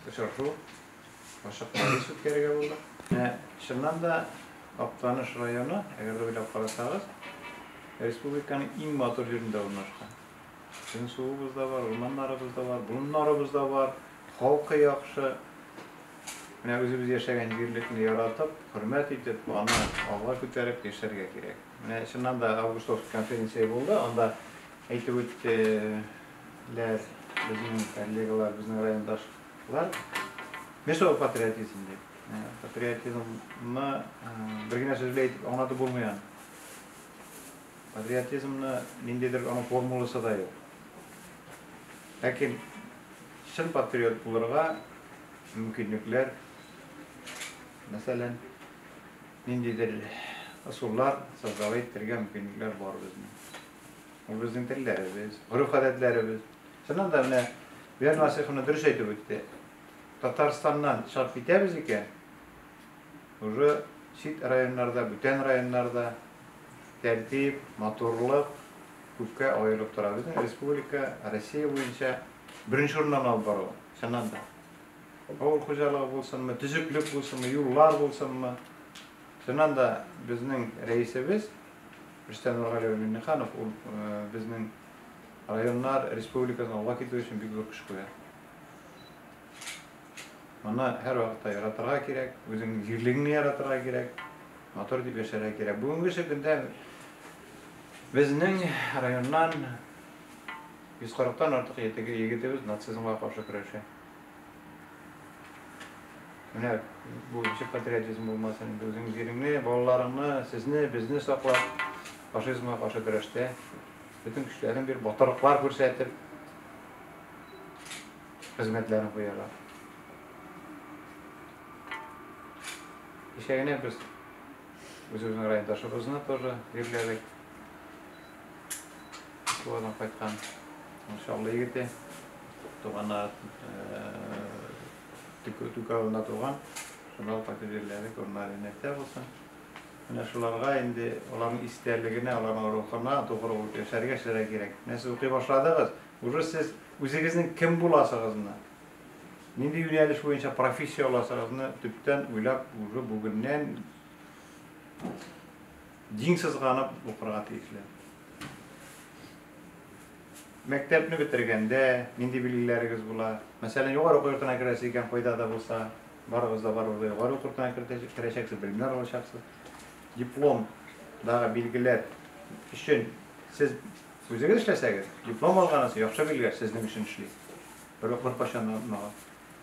Очрашу ачык мәҗлес үткәрергә булдык. Менә чыннан да Актаныш районы, әгәр дә уйлап карасагыз, республиканың иң матур җирендә урнашкан. Безнең суыбыз да бар, урманнарыбыз да бар, болыннарыбыз да бар, халкы яхшы. Менә үзебез яшәгән җирлекне яратып, хөрмәт итеп, аны алга күтәреп яшәргә кирәк. Менә чыннан да Августовский конференция булды, анда әйтеп үтте, ләр, безнең коллегалар, безнең райондашлар нәрсә ул патриотизм дип. Ә, патриотизмны ә, бер генә сүз белән әйтеп аңлатып булмый аны. Патриотизмны ниндидер аның формуласы да юк. Ләкин чын патриот булырга мөмкинлекләр, мәсәлән, ниндидер ысуллар создавать итәргә мөмкинлекләр бар безнең. Безнең телләребез, гореф-гадәтләребез. Чыннан да менә Бияр Насыйховна дөрес әйтеп үтте. Татарстаннан чыгып китәбез икән, уже чит районнарда, бүтән районнарда тәртип, матурлык күпкә аерылып тора. Безнең республика Россия буенча беренче урыннан алып бару, чыннан да. Авыл хуҗалыгы булсынмы, төзеклек булсынмы, юллар булсынмы. Чыннан да безнең рәисебез Рөстәм Нургали улы Миңнеханов ул безнең районнар, республикадан алга китү өчен бик зур көч куя. Аны һәр вакытта яратырга кирәк, үзеңнең җирлегеңне яратырга кирәк, матур дип яшәргә кирәк. Бүгенге көндә безнең районнан 140 тан артык егетебез нацизмга каршы көрәшә. Менә бу ничек патриотизм булмасын инде, үзең җиреңне, балаларыңны, сезне, безне саклап, фашизмга каршы көрәштә бөтен көчләрен бир, батырлыклар күрсәтеп, хезмәтләрен куялар. Кичә генә без үзебезнең райондашыбызны тоже җирләдек. Тугадан кайткан Чаллы егете. Туганнар Түк авылында туган. Шуннан кайтып җирләре күренә инәктә булсын. Менә шуларга инде аларның истәлегенә, аларның рухына тугры булып яшәргә эшләргә кирәк. Менә сез укый башладыгыз, уже сез үзегезнең кем буласыгызны, нинди юнәлеш буенча профессия аласыгызны төптән уйлап уже бүгеннән Дин сызганып укырга тиешле. Мәктәпне бетергәндә нинди билгеләрегез була? Мәсәлән, югары уку йортына керәсе икән, кайда да булса, барыгыз да барыгыз да югары уку йортына керәчәксез, белемнәр алачаксыз. Диплом дагы билгеләр өчен сез үзегез эшләсәгез, диплом алганысы яхшы билгеләр сезнең өчен эшли. Бер бер кайчан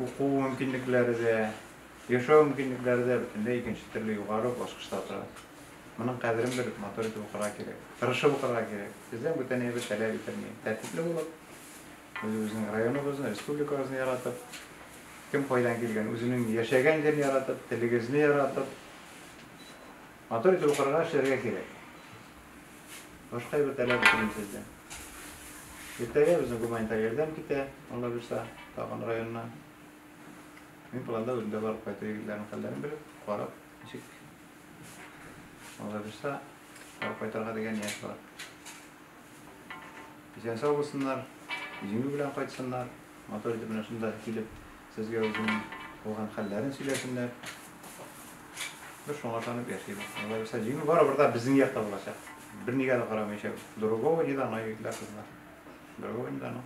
уку мөмкинлекләре дә, яшәү мөмкинлекләре дә бөтенләй икенче төрле югары баскычта тора. Моның кадерен белеп, матур итеп укырга кирәк. Тырышып укырга кирәк. Бездән бүтән әйбер таләп ителми. Тәртипле булып, үзебезнең районыбызны, республикабызны яратып, кем кайдан килгән, үзенең яшәгән җирен яратып, телегезне яратып, матур итеп укырга, эшләргә кирәк. Башка әйбер таләп ителми сездән. Иртәгә безнең гуманитар ярдәм китә, Алла бирса, тагын районына. Мин планда үземдә барып кайту егетләрнең хәлләрен белеп, карап, ничек Алла бирса, барып кайтарга дигән ният бар. Исән-сау булсыннар, җиңү белән кайтсыннар. Матур итеп менә шунда килеп Сезгә үзенең булган хәлләрен сөйләсеннәр. Без шуңа ышанып яшибез. Алла бирса, җиңү барыбер да безнең якта булачак. Бернигә дә карамыйча, другого не дано, егетләр, кызлар. Другого не дано.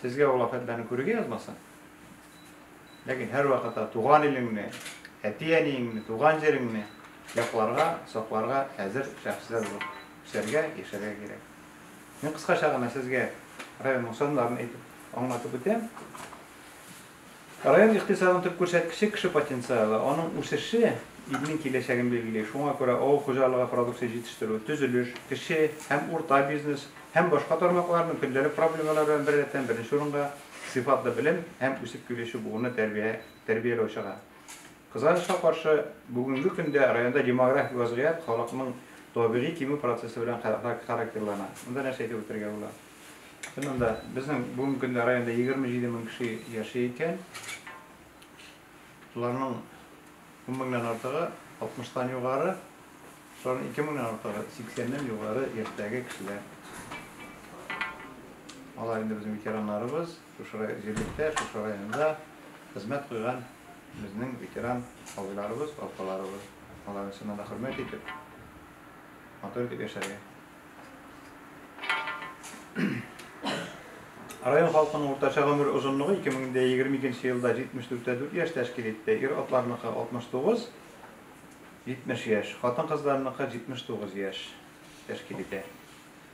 Сезгә ул афәтләрне күрергә язмасын. Ләкин һәрвакытта туган илеңне, әти-әниеңне, туган җиреңне якларга, сакларга әзер шәхесләр булып үсәргә, яшәргә кирәк. Мин кыскача гына сезгә районның саннарын әйтеп, аңлатып үтәм. Район икътисадының төп күрсәткече кеше потенциалы. Аның үсеше илнең киләчәген билгели. Шуңа күрә авыл хуҗалыгы продукция җитештерү, төзелеш, кече һәм урта бизнес һәм башка тармакларның көндәлек проблемалары белән беррәттән беренче урынга сыйфатлы белем һәм үсеп килүче буынны тәрбияләү чыга. Кызганычка каршы, бүгенге көндә районда демографик вазгыять халыкның табигый кимү процессы белән характерлана. Монда нәрсә әйтеп үтәргә була? Чыннан да, безнең бүгенге көндә районда егерме җиде мең кеше яши икән. Шуларның ун меңнән артыгы алтмыштан югары, шуларның ике меңнән артыгы сиксәннән югары яшьтәге кешеләр. Алар инде безнең ветераннарыбыз. Шушы җирлектә, шушы районда хезмәт куйган безнең ветеран абыйларыбыз, апаларыбыз, аларны чыннан да хөрмәт итеп, матур итеп яшәргә. Район халкының уртача гомер озынлыгы 2022 нче елда 74 тә 4 яшь тәшкил итте. Ир-атларныкы 69, 70 яшь, хатын-кызларныкы 79 яшь тәшкил итә.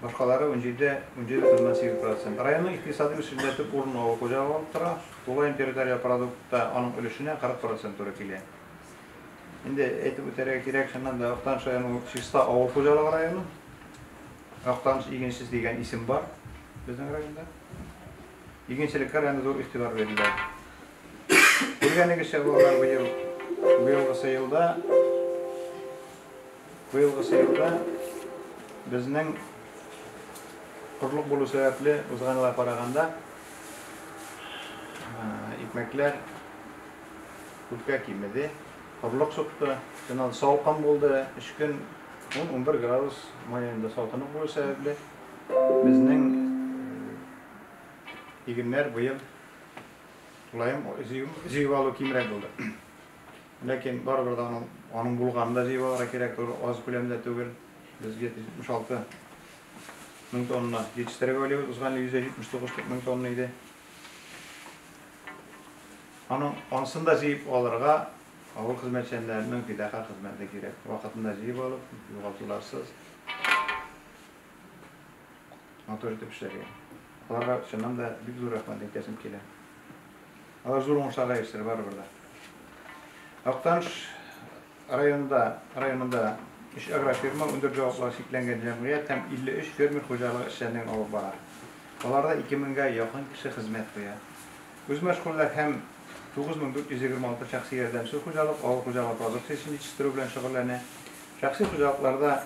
Башкалары унҗиде, унҗиде бөтеннән сигез процент. Районның икътисади үсешендә төп урынны авыл хуҗалыгы алып тора. Тулаем территориаль продуктта аның өлешенә 40 процент туры килә. Инде әйтеп үтәргә кирәк, чыннан да, Актаныш районы ул чиста авыл хуҗалыгы районы. Актаныш игенчесе дигән исем бар безнең районда. Игенчелеккә районда зур игътибар бирелә. Күргәнегезчә, балалар, быел, быелгысы елда, Быелгы сыйныфта безнең корылык булу сәбәпле, узган елга караганда, икмәкләр күпкә кимеде. Корылык чыкты, шуннан салкын булды, өч көн 10-11 градус маенда салкынлык булу сәбәпле, безнең игеннәр быел тулаем җыеп алу кимрәк булды. Ләкин барыбер дә аның, аның булганын да җыеп алырга кирәк, туры аз күләмдә түгел. Без 776 мең тонна җитештереп уйлыйбыз, узган ел 179 мең тонна иде. Аның, анысын да җыеп алырга авыл хезмәтчәннәренең фидака хезмәте кирәк. Вакытында җыеп алып, югалтуларсыз матур итеп эшләргә. Аларга чыннан да бик зур рәхмәт әйтәсем килә. Алар зур уңышларга ирешер барыбер дә. Актаныш районында районында 3 агрофирма, 14 җаваплылыгы чикләнгән җәмгыять һәм 53 фермер хуҗалыгы эшләрен алып бара. Аларда 2 меңгә якын кеше хезмәт куя. Үзмәшгульләр һәм 9426 шәхси ярдәмчел хуҗалык авыл хуҗалыгы продукциясен җитештерү белән шөгыльләнә. Шәхси хуҗалыкларда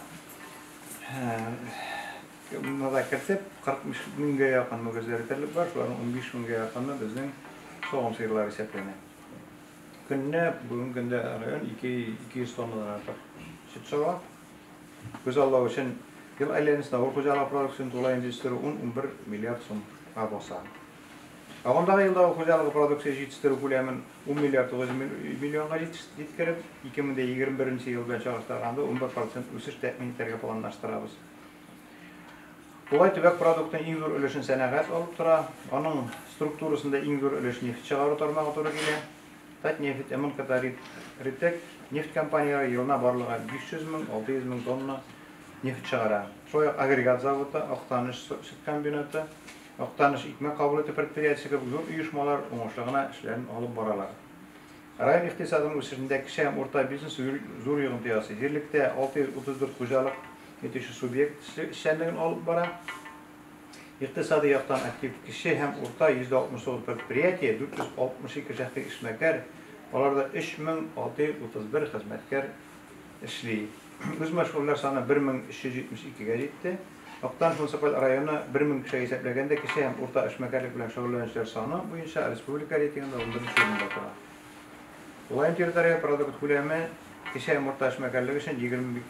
Монда кертеп, 40 меңгә якын мөгезләр итәрлек бар, шуларның 15 меңгә якыны безнең савым сыерлары исәпләнә. Көненә бүгенге көндә район 200 тоннадан артык сөт сава. Күзаллау өчен ел әйләнәсендә авыл хуҗалыгы продукциясен тулаем җитештерү 10-11 миллиард сумга баса. Агымдагы елда авыл хуҗалыгы продукциясе җитештерү күләмен 10 миллиард 900 миллионга җиткереп, 2021 елда чагыштырганда 11 процент үсеш тәэмин итәргә планлаштырабыз. Болай төбәк продуктының иң зур өлешен сәнәгать алып тора. Аның структурасында иң зур өлеш нефть чыгару тармагы туры килә. Татнефть, МНКтарит, Ритек нефть компанияләре елына барлыгы 500 мең, 600 мең тонна нефть чыгара. Шулай ук агрегат заводы, Актаныш сөт комбинаты, Актаныш икмәк кабул итү предприятиесе кебек зур оешмалар уңышлы гына эшләрен алып баралар. Район икътисадының үсешендә кече һәм урта бизнес зур йогынты ясый. Җирлектә 634 хуҗалык итүче субъект эшчәнлеген алып бара. Икътисади яктан актив кече һәм урта 169 предприятие, 462 шәхси эшмәкәр, аларда 3631 хезмәткәр эшли. Үзмәшгульләр саны 1372 гә җитте. Актаныш муниципаль районы бер мең кешегә исәпләгәндә кече һәм урта эшмәкәрлек белән шөгыльләнүчеләр саны буенча республика рейтингында унберенче урында тора. Тулаем территориаль продукт күләме кече һәм урта эшмәкәрлек өчен егерме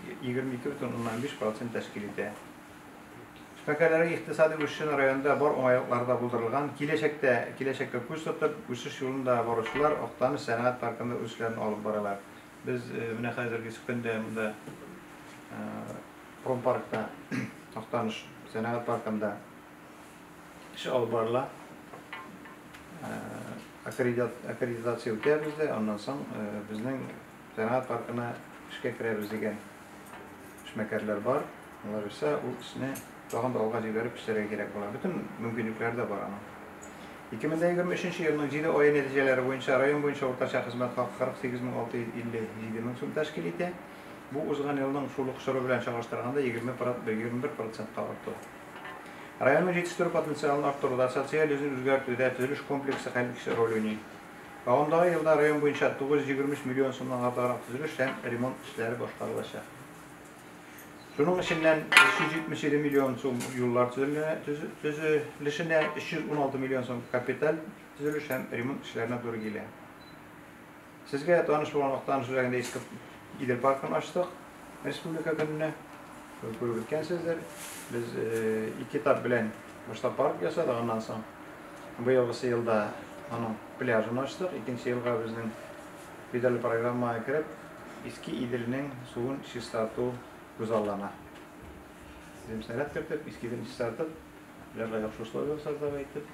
ике бөтен уннан биш процент тәшкил итә. Эшмәкәрләрнең икътисади үсешен районда бар уңайлыклары да булдырылган. Киләчәктә киләчәккә күз тотып, үсеш юлында баручылар Актаныш сәнәгать паркында үз эшләрен алып баралар. Без менә хәзерге көндә монда Промпаркта, Актаныш сәнәгать паркында эш алып барыла. Аккредитация үтәбез дә, аннан соң безнең сәнәгать паркына эшкә керәбез дигән эшмәкәрләр бар. Алар исә ул эшне тагын да алга җибәреп эшләргә кирәк була. Бөтен мөмкинлекләре дә бар аның. 2023 елның 7 ае нәтиҗәләре буенча район буенча уртача хезмәт хакы 48657 мең сум тәшкил итә. Бу узган елның шул ук чоры белән чагыштырганда 21 процентка арту. Районның җитештерү потенциалын арттыруда, социаль йөзен үзгәртүдә төзелеш комплексы хәл итүче роль уйный. Агымдагы елда район буенча 923 миллион сумнан артыграк төзелеш һәм ремонт эшләре башкарылачак. Шуның эченнән 377 миллион сум юллар төзелешенә, 316 миллион сум капиталь төзелеш һәм ремонт эшләренә туры килә. Сезгә таныш булган Актаныш үзәгендә иске Идел паркын ачтык республика көненә. Күреп үткәнсездер. Без ике этап белән башта парк ясадык, аннан соң быелгысы елда аның пляжын ачтык. Икенче елга безнең федераль программага кереп, иске Иделнең суын чистарту күзаллана. Дим сәләт кертеп, иске Иделне чистартып, пляжга яхшы условия ясарга әйтеп,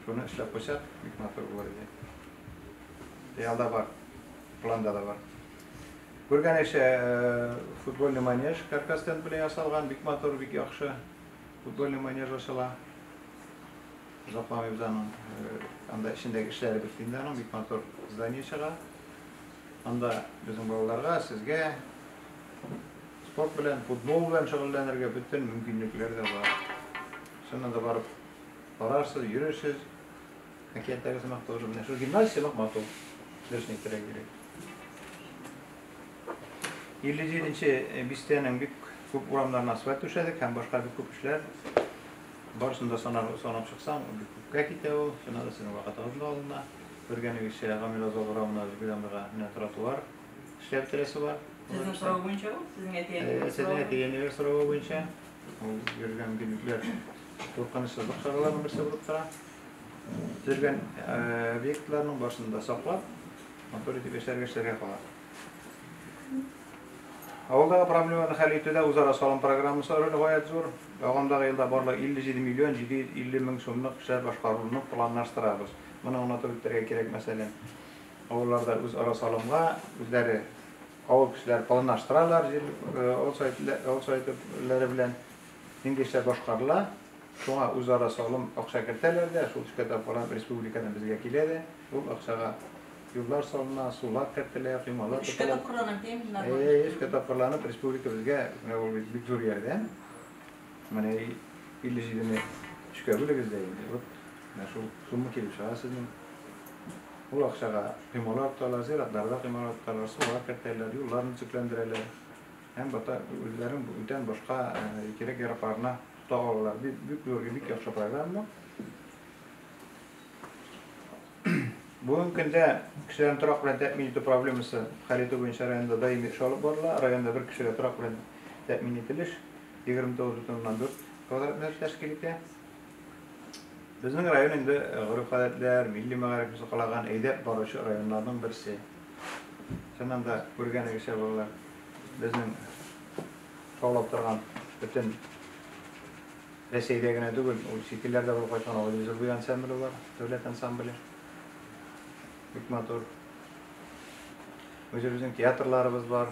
шуны эшләп куйсак, бик матур булыр иде. Реалда бар, планда да бар. Күргәнегезчә, э, футбольный манеж каркастен белән ясалган, бик матур, бик яхшы. Футбольный манеж ачыла. Озакламыйбыз аның, э, анда эчендәге эшләре бетте инде аның, бик матур здание чыга. Анда безнең балаларга, сезгә спорт белән, футбол белән шөгыльләнергә бөтен мөмкинлекләр дә бар. Шунда да барып карарсыз, йөрерсез, Әкияттәге сымак тоже менә шул гимназия сымак матур. Дөресен әйтергә кирәк. 57 нче э, бистәнең бик күп урамнарына асфальт түшәдек һәм башка бик күп эшләр. Барысын да санап, санап чыксаң, бик күпкә китә ул. Шуна да сезнең вакытыгыз да алына. Күргәнегезчә, Гамил Азал урамына Зөбидәмирга менә тротуар эшләп бетерәсе бар. Сезнең сорау буенча ул, сезнең әти-әниләр. Э, сезнең әти-әниләр сорауы буенча. Ул йөргән гөлүкләр куркынычсызлык чараларының берсе булып тора. Төзелгән объектларның барысын да саклап, контроль итеп яшьләргә эшләргә кала. Авылдагы проблеманы хәл итүдә үзара салым программасы роле гаять зур. Ягымдагы елда барлыгы 57 миллион 750 мең сумлык эшләр башкарылуны планлаштырабыз. Моны онытып үтәргә кирәк, мәсәлән, авылларда үзара салымга үзләре авыл кешеләре планлаштыралар, җир авыл советләре белән нинди эшләр башкарыла, Шуңа үзара салым акча кертәләр дә, шул төшкәтап карап республикадан безгә килә дә, ул акчага юллар салына, сулар кертелә, коймалар тотыла. Эшкә тапкырланып, пендлар бар. Әйе, эшкә тапкырланып, республика безгә, менә ул бит бик зур ярдәм. Менә 57 не өчкә бүлегез дә инде. Вот менә шул сумма килеп чыга сезнең. Ул акчага коймалар тоталар, зиратларда коймалар тоталар, сулар кертәләр, юлларны төзекләндерәләр. Һәм бата үзләренең бүтән башка кирәк-яракларына Договорлар бик бик зургы, бик яхшы программа. Бүгенге көндә кешеләрне торак белән тәэмин итү проблемасы хәл итү буенча районда даими эш алып барыла. Районда бер кешегә торак белән тәэмин ителеш 29,4 квадрат метр тәшкил итә. Безнең район инде э, гореф-гадәтләр, милли мәгариф сакланган әйдәп баручы районнарның берсе. Чыннан да күргәнегезчә балалар, безнең шаулап торган бөтен Рәсәйдә генә түгел, ул чит илләрдә булып кайткан Агыйдел Зурбуй ансамбле бар, дәүләт ансамбле. Бик матур. Үзебезнең театрларыбыз бар.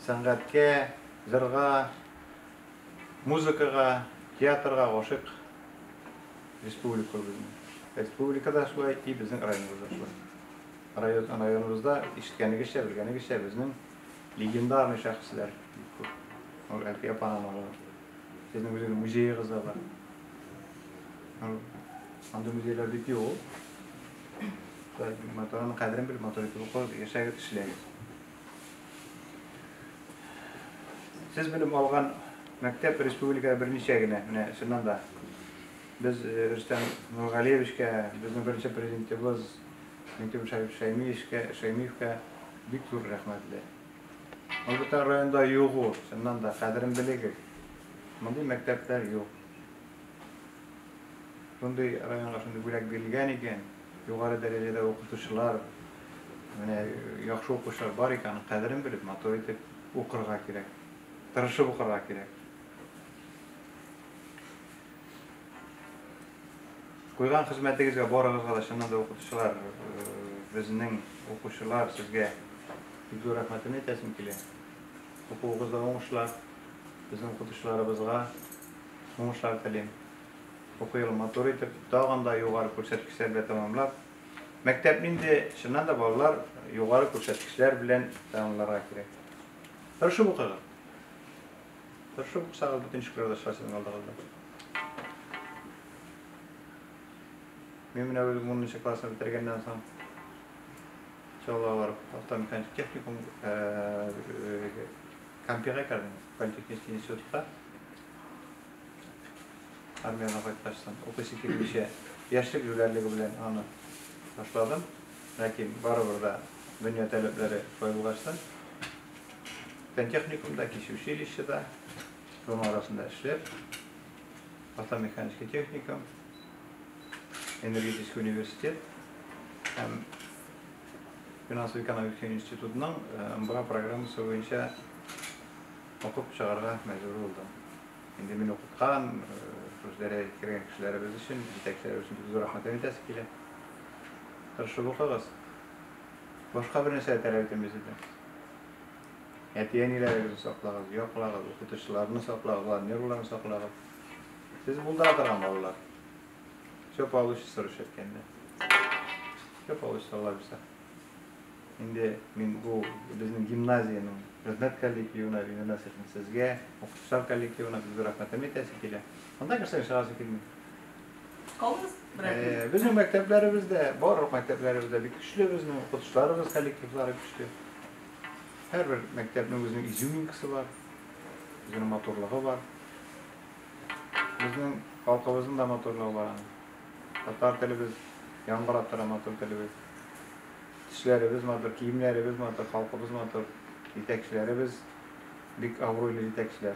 Сәнгатькә, җырга, музыкага, театрга гашык республика безнең. Республикада шулай и безнең районыбызда шулай. Районыбызда, ишеткәнегезчә, белгәнегезчә, безнең легендарный шәхесләр бик күп. Ул Әлфия апаның улы. Сезнең үзегез музеегыз да бар. Андый музейлар бик юк. Моторның кадерен белеп, мотор итеп укып, яшәгез, эшләгез. Сез белем алган мәктәп республикада берничә генә, менә чыннан да. Без Рөстәм Нургалиевичкә, безнең беренче президентыбыз Минтимер Шәймиевичкә, Шәймиевкә бик зур рәхмәтле. Ул бүтән районда юк ул, чыннан да, кадерен белегез. Мондый мәктәпләр юк. Шундый районга шундый бүләк бирелгән икән, югары дәрәҗәдә укытучылар, менә яхшы укучылар бар икән, аның кадерен белеп, матур итеп укырга кирәк. Тырышып укырга кирәк. Куйган хезмәтегезгә барыгызга да чыннан да укытучылар безнең укучылар сезгә бик зур рәхмәтен әйтәсем килә. Укуыгызда уңышлар, безнең укытучыларыбызга уңышлар телим. Уку елын матур итеп, тагын да югары күрсәткечләр белән тәмамлап, мәктәп нинди, чыннан да балалар югары күрсәткечләр белән тәмамларга кирәк. Тырышып укыгыз. Тырышып укысагыз, бөтен шикләрдә чыга сезнең алдыгызда. Мин менә үзем 10 нчы классны бетергәннән соң Чаллалар автомеханик техникум Кампига кердем, политехнический институтка. Армиядан кайткач соң, укыйсы килмичә, яшьлек җүләрлеге белән аны башладым. Ләкин барыбер дә дөнья таләпләре шулай булгачтан, Фән техникумда, кече училищеда, шуның арасында эшләп, автомеханический техникум, энергетический университет һәм финансовый экономик институтның МБА программасы буенча укып чыгарга мәҗбүр булдым. Инде мин укыткан, шушы дәрәҗәгә кергән кешеләребез өчен, җитәкчеләребез өчен бик зур рәхмәтләр әйтәсе килә. Тырышып укыгыз, Башка бер нәрсә дә таләп итәмәс иде. Әти-әниләрегезне саклагыз, яклагыз, укытучыларны саклагыз, алар нервларын саклагыз. Сез булдыра торган балалар. Все получится, рус әйткәндә. Все получится, Алла бирсә. Инде мин бу безнең гимназиянең хезмәт коллективына, именно сезгә, укытучылар коллективына сезгә рәхмәтем әйтәсе килә. Анда кешеләр чыгасы килми. Калыгыз, берәр Безнең мәктәпләребез дә, барлык мәктәпләребез дә бик көчле, безнең укытучыларыбыз коллективлары көчле. Һәрбер мәктәпнең үзенең изюминкасы бар, үзенең матурлыгы бар. Безнең халкыбызның да матурлыгы бар аның. Татар телебез яңгырап тора, матур телебез. Тешләребез матур, киемнәребез матур, халкыбыз матур, җитәкчеләребез бик абруйлы җитәкчеләр.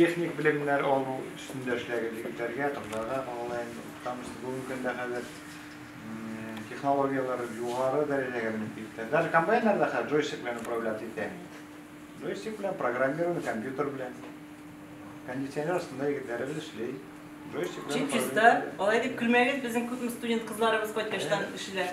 техник белемнәр алу өстендә эшләгез егетләргә, кызларга калалаем. Тамыз бүгенге көндә хәзер технологияләр югары дәрәҗәгә менеп китте. Даже комбайннарда хәзер джойстик белән управлять итә. Джойстик белән программирование компьютер белән. Кондиционер астында егетләребез эшли. Джойстик белән. Чип чиста. Алай дип көлмәгез, безнең күпме студент кызларыбыз кайткачтан эшлиләр.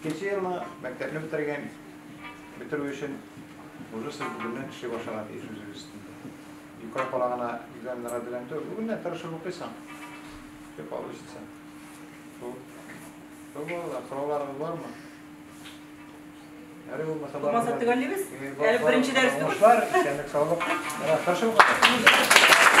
Икенче елны мәктәпне бетергән, бетерү өчен уже сез бүгеннән эшли башларга тиеш үзегез өстендә. Юкә кала гына экзаменнарга белән түгел, бүгеннән тырышып укыйсың. Все получится. Шул. Шул балалар, сорауларыгыз бармы? Әле булмаса бар. Булмаса төгәллибез. Әле беренче дәрес түгел. Уңышлар, исәнлек, саулык. Менә тырышып укыйсың.